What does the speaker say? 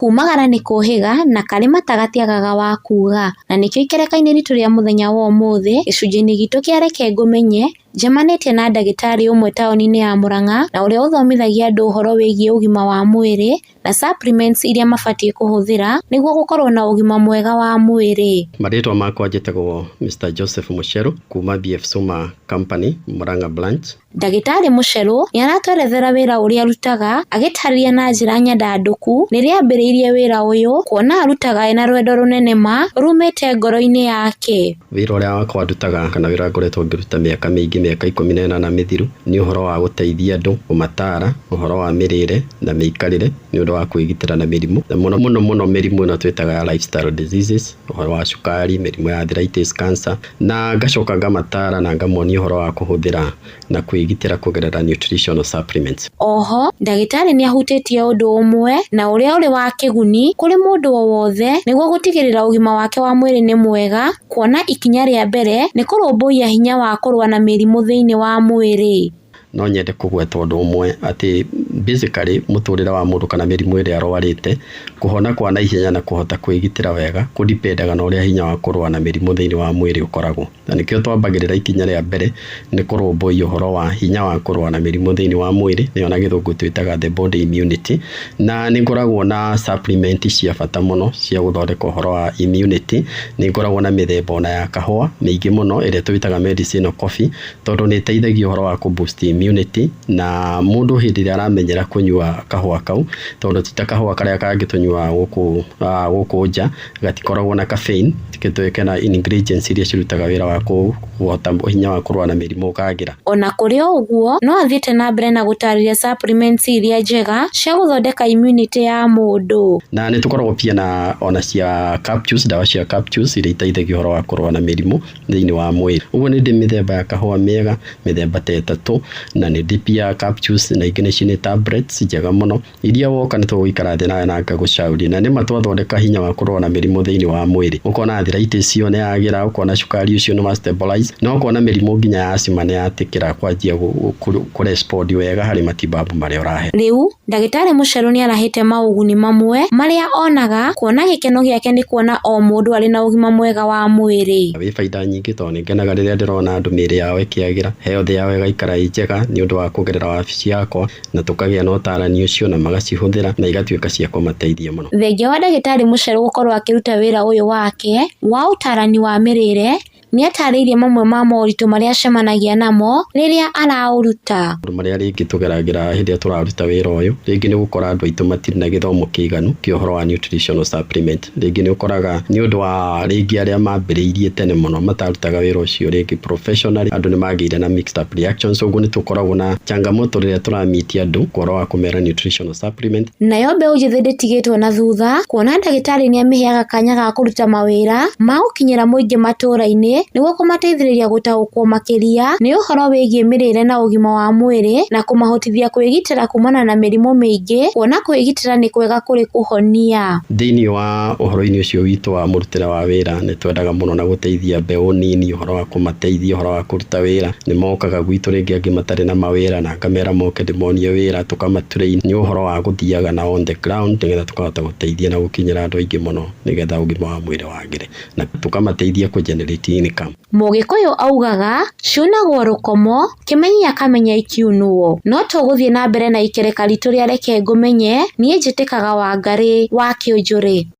Kuumagara nĩ kũũhĩga, na karĩ mata gatiagaga wa kuuga. Na nĩkĩo ikereka-inĩ ritũ rĩa mũthenya wa ũmũthĩ, gĩcunjĩ-inĩ gitũ kĩa Reke Ngũmenye, njemanĩtie na ndagĩtarĩ ũmwe taũni-inĩ ya Mũrang'a, na ũrĩa ũthomithagia andũ ũhoro wĩgiĩ ũgima wa mwĩrĩ, na supplements iria mabatiĩ kũhũthĩra, nĩguo gũkorwo na ũgima mwega wa mwĩrĩ. Marĩtwa makwa njĩtagwo Mister Joseph Mucheru, kuuma BF Suma Company, Murang'a Branch. Ndagĩtarĩ Mũcherũ nĩ aratwerethera wĩra ũrĩa arutaga agĩtaarĩria na njĩra nyandandũku rĩrĩa aambĩrĩirie wĩra ũyũ kuona arutaga ena rwendo rũnene ma rumĩte ngoro-inĩ yake. Wĩra ũrĩa wakwa ndutaga kana wĩra ũrĩa ngoretwo ngĩruta mĩaka mĩingĩ mĩaka ikũmi na ĩnana mĩthiru nĩ ũhoro wa gũteithia andũ, kũmataara ũhoro wa mĩrĩre na mĩikarĩre nĩ ũndũ wa kwĩgitĩra na mĩrimũ na mũno mũno mũno mĩrimũ ĩno twĩtaga ya lifestyle diseases ũhoro wa cukari, mĩrimũ ya arthritis, cancer. Na ngacoka ngamataara na ngamonia ũhoro wa kũhũthĩra na kwĩgitĩra kũgerera nutritional supplements. O ho, ndagĩtarĩ nĩ ahutĩtie ũndũ ũmwe na ũrĩa ũrĩ wa kĩguni kũrĩ mũndũ o wothe nĩguo gũtigĩrĩra ũgima wake wa mwĩrĩ nĩ mwega, kuona ikinya rĩa mbere nĩ kũrũmbũiya hinya wa kũrũa na mĩrimũ thĩinĩ wa mwĩrĩ. No nyende kũgweta ũndũ ũmwe atĩ basically mũtũrĩre wa mũndũ kana mĩrimũ ĩrĩa arwarĩte, kũhona kwa naihenya na kũhota kwĩgitĩra wega kũ depend aga na ũrĩa hinya wa kũrũa na mĩrimũ thĩinĩ wa mwĩrĩ ũkoragwo. Na nĩkĩo twambagĩrĩra ikinya rĩa mbere nĩ kũrũmbũiya ũhoro wa hinya wa kũrũa na mĩrimũ thĩinĩ wa mwĩrĩ, nĩyo na gĩthũngũ twĩtaga the body immunity. Na nĩ ngoragwo na supplement cia bata mũno cia gũthondeka ũhoro wa immunity. Nĩ ngoragwo na mĩthemba ona ya kahũa mĩingĩ mũno ĩrĩa twĩtaga medicinal coffee, tondũ nĩ ĩteithagia ũhoro wa kũ boost immunity na mũndũ hĩndĩ ĩrĩa aramenyera kũnyua kahũa kau tondũ ti ta kahũa karĩa kangĩ tũnyuaga gũkũ gũkũ nja gatikoragwo na caffeine kana ingredients iria cirutaga wĩra wa kũhota hinya wa kũrũa na mĩrimũ kagĩra. Ona kũrĩ o ũguo no athiĩte na mbere na gũtarĩria supplements iria njega cia gũthondeka immunity ya mũndũ. Na nĩ tũkoragwo pia na ona cia capsules ndawa cia capsules iria iteithagia ũhoro wa kũrũa na mĩrimũ. thĩinĩ wa mwĩrĩ. Ũguo nĩ ndĩ mĩthemba ya kahũa mĩega mĩthemba ta ĩtatũ, na nĩ ndĩ pia capsules na ingĩ nĩcio nĩ tablets njega mũno, iria woka nĩ tũgũikara thĩ nawe na ngagũcauria. Na nĩma twathondeka hinya wa kũrũa na mĩrimũ thĩinĩ wa mwĩrĩ. Ũkona arthritis ĩyo nĩ yagĩra, ũkona cukari ũcio nĩ wa stabilize, na ũkona mĩrimũ nginya ya asthma nĩ yatĩkĩra kwanjia kũ respond wega harĩ matibabu marĩa ũrahe. Rĩu Ndagĩtarĩ Mũcheru nĩ arahĩte maũguni mamwe marĩa onaga kuona gĩkeno gĩake nĩ kuona o mũndũ arĩ na ũgima mwega wa mwĩrĩ. Na wĩ baida nyingĩ tondũ nĩ ngenaga rĩrĩa ndĩrona andũ mĩĩrĩ yao ĩkĩagĩra, health yao ĩgaikara ĩ njega nĩ ũndũ wa kũgerera wabici yakwa na tũkagĩa na ũtaarani ũcio na magacihũthĩra na igatuĩka cia kũmateithia mũno. Thengia wa Ndagĩtarĩ Mũcheru gũkorwo akĩruta wĩra ũyũ wake wa ũtaarani wa mĩrĩĩre Nĩ aataarĩirie mamwe ma moritũ marĩa acemanagia namo rĩrĩa araũruta. Maũndũ marĩa rĩngĩ tũgeragĩra hĩndĩ ĩrĩa tũraruta wĩra ũyũ, rĩngĩ nĩ ũgũkora andũ aitũ matirĩ na gĩthomo kĩiganu kĩa ũhoro wa nutritional supplement. Rĩngĩ nĩ ũkoraga nĩ ũndũ wa rĩngĩ arĩa mambĩrĩirie tene mũno matarutaga wĩra ũcio rĩngĩ professionally, andũ nĩ magĩire na mixed up reactions. Ũguo nĩ tũkoragwo na changamoto rĩrĩa tũra meet andũ ũhoro wa kũmera nutritional supplement. supplement. Nayo mbeũ njĩthĩ ndĩtigĩtwo na thutha kuona ndagĩtarĩ nĩamĩheaga kanya ga kũruta mawĩra ma gũkinyĩra mũingĩ matũra-inĩ nĩguo kũmateithĩrĩria gũtaũkwo makĩria nĩ ũhoro wĩgiĩ mĩrĩre na ũgima wa mwĩrĩ na kũmahotithia kwĩgitĩra kumana na mĩrimũ mĩingĩ kuona kwĩgitĩra nĩ kwega kũrĩ kũhonia. Thĩinĩ wa ũhoro-inĩ ũcio witũ wa mũrutĩre wa wĩra nĩ twendaga mũno na gũteithia mbeũ nini ũhoro wa kũmateithia ũhoro wa kũruta wĩra. Nĩ mokaga gwitũ rĩngĩ angĩ matarĩ na mawĩra na... Kamera moke ndĩmonie wĩra tũkama train nĩ ũhoro wa gũthiaga na on the ground nĩgetha tũkahota gũteithia na gũkinyĩra andũ aingĩ mũno nĩgetha ũgima wa mwĩrĩ wagĩre na tũkamateithia kũ generate income. Mũgĩkũyũ augaga, Ciunagwo rũkomo, kĩmenyia kamenya ikiunwo. No tũgũthiĩ na mbere na ikereka ritũ rĩa reke ngũmenye, niĩ njĩtĩkaga Wangarĩ, wa Kĩũnjũrĩ.